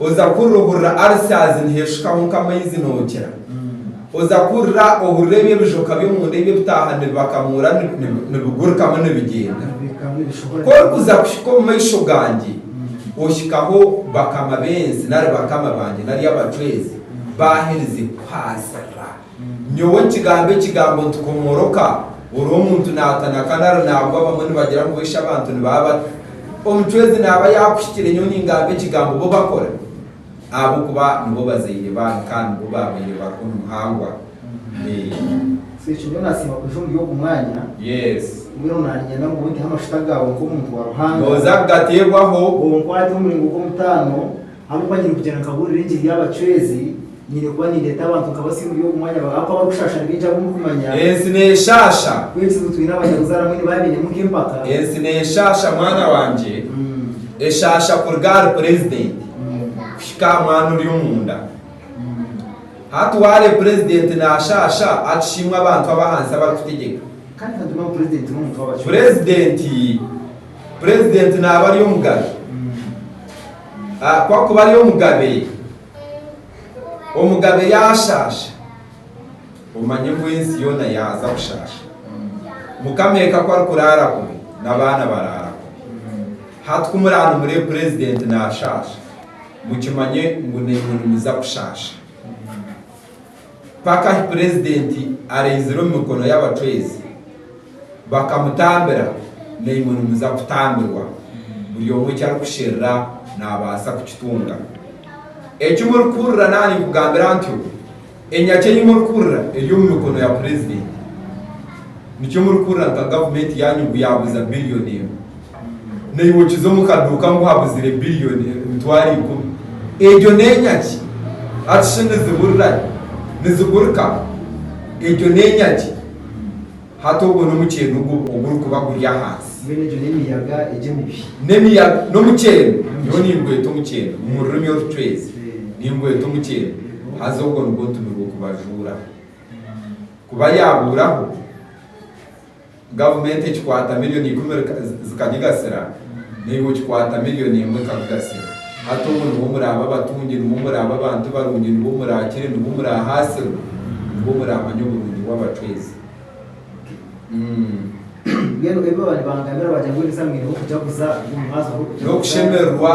Oza kuhurira ohurira arisaazi niheeshukaho nk'amaizi nookira. Oza kuhurira ohurira ebyo ebijoka by'omunda ebi ebitaaha nibibakamuura nibigurikamu nibigyenda. Ku orikuza kuhika omu maisho gangye, ohikaho bakama b'ensi nari bakama bangye nari abacwezi baaherize kukuhaasirira. Nyowe nkigambe ekigambo nti komoroka ori omuntu natana kandi ari nabwo abamwe nibagira ngu boishe abantu nibaba bata omucwezi naba yakuhikire nyowe ningamba ekigambo bo bakora ahabokuba nibo bazaire banyu kandi nibo babaire bariho nimuhangwa eeh. Sekikubo nasiima kuja omuri ogu mwanya. Yes. Mbwenu naninyenda ngu oiteho amashuta gaawe nk'omuntu wa Ruhanga. Nooza kugateebwaho. Onkwate omu muringo gw'omutaano. Ahabw'okuba nyine kugyenda nkabuurira engiri y'abacwezi, nyine kuba nindeeta abantu nka basya omuri ogu mwanya, ahabw'okuba abarikushaasha nibaija ab'omu birikumanya. Ensi neeshaasha. Ku ekizibu twine abanyabuzaare abamwe nibaba bainemu nk'empaka. Ensi neeshaasha mwana wangye, eshaasha kuruga ahari purezidenti kuhika aha mwana ori omunda. Hati waareeba purezidenti naashaasha akishiimwe abantu ab'ahansi abarikutegyeka. Kandi ka nitume ngu purezidenti n'omuntu w'abacwezi. Purezidenti, purezidenti naaba ari omugabe. Ku akuba ari omugabe, omugabe yaashaasha, omanye ngu ensi yoona yaaza kushaasha. Mukama eka ku arikuraara kubi, n'abaana baraara kubi. Hati ku muraanumure purezidenti naashaasha, mukimanye ngu naimwe nimuza kushaasha. Mpaka ahi Purezidenti araizire omu mikono y'abacwezi, bakamutambira naimwe nimuza kutambirwa, buri omwe eki arikusherura naabaasa kukitunga. Eki murikuhurira naaninkugambira ntyo, enyakya ei murikuhurira eri omu mikono ya Purezidenti. Nikyo murikuhurira nka gavumenti yaanyu ngu yaaguza biriyoni emwe. Naiwe okize omu kaduuka ngu habuzire billion emitwaro ikumi. Egyo n'enyagi? Hati shi niziburira gye? Nizigurika? Egyo n'enyagi? Hati ogwo n'omuceeni ogwo ogurikuba guri ahansi. Mbwenu egyo n'emiyaga egi emibi? N'emiyaga, n'omuceeni. Nyowe ningweta omuceeni. Omu rurimi orucwezi ningweta omuceeni. Haza ogwo nigwo ntumirwe kubajuuraho. Kuba yaabuuraho, Gavumenti ekikwata milioni ikumi zikagigasira, naiwe okikwata milioni emwe ekakugasira. Hati obwo nibwo muraaba abatungi, nibwo muraaba abantu barungi, nibwo muraakire, nibwo muraahaasirwe, nibwo muraamanya oburungi bw'abacwezi. Umm. Mbwenu ebi baba nibangamira baagira ngu ni za mwineho kujaguza, omu mwazyo h'okujaguza. N'okushemererwa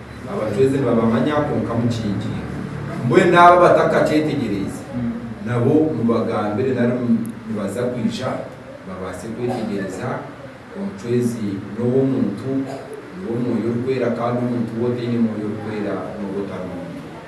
Abajwezi nibabamanya, kwonka mukiingiire. Mbwenu abo abatakakyetegyereize, nabo mubagambire nari nibaza kwija babaase kwetegyeereza, omucwezi n'ow'omuntu, niwe Mwoyo Orikwera, kandi omuntu we otaine Mwoyo Orikwera n'oba otarombi.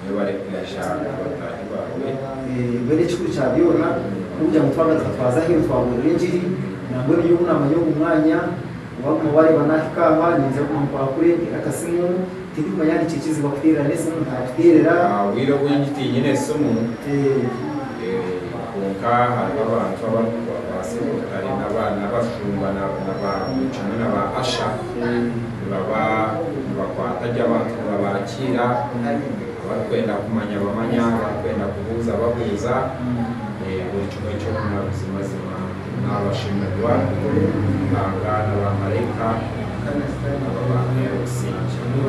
Niwe barikugasha ngu bataahi baawe. Mbwenu ekikuru kya byona n'okugira ngu twagaruka twaza aheeru twabuurira engiri. Nambwenu nyowe obu naamanya ogu mwanya, waaguma waareeba naahika aha, niingira kuguma nkwakure nteere akasimu. Tindikumanya yaaba nikyo kizibu akuteerera n'esimu ntaakuteerera. Aha bwire obu ndi tiinyine esimu, kwonka hariho abantu abarikubaasa obu batari n'abashumba na ba buri kimwe na ba Asha. nibaba nibakwata gye abantu nibabaakiira, abarikwenda kumanya bamanya, abarikwenda kubuuza babuuza, buri kimwe kyona buzimazima naabashemererwa Ruhanga na baamaraika aba baamuhaire obusingye.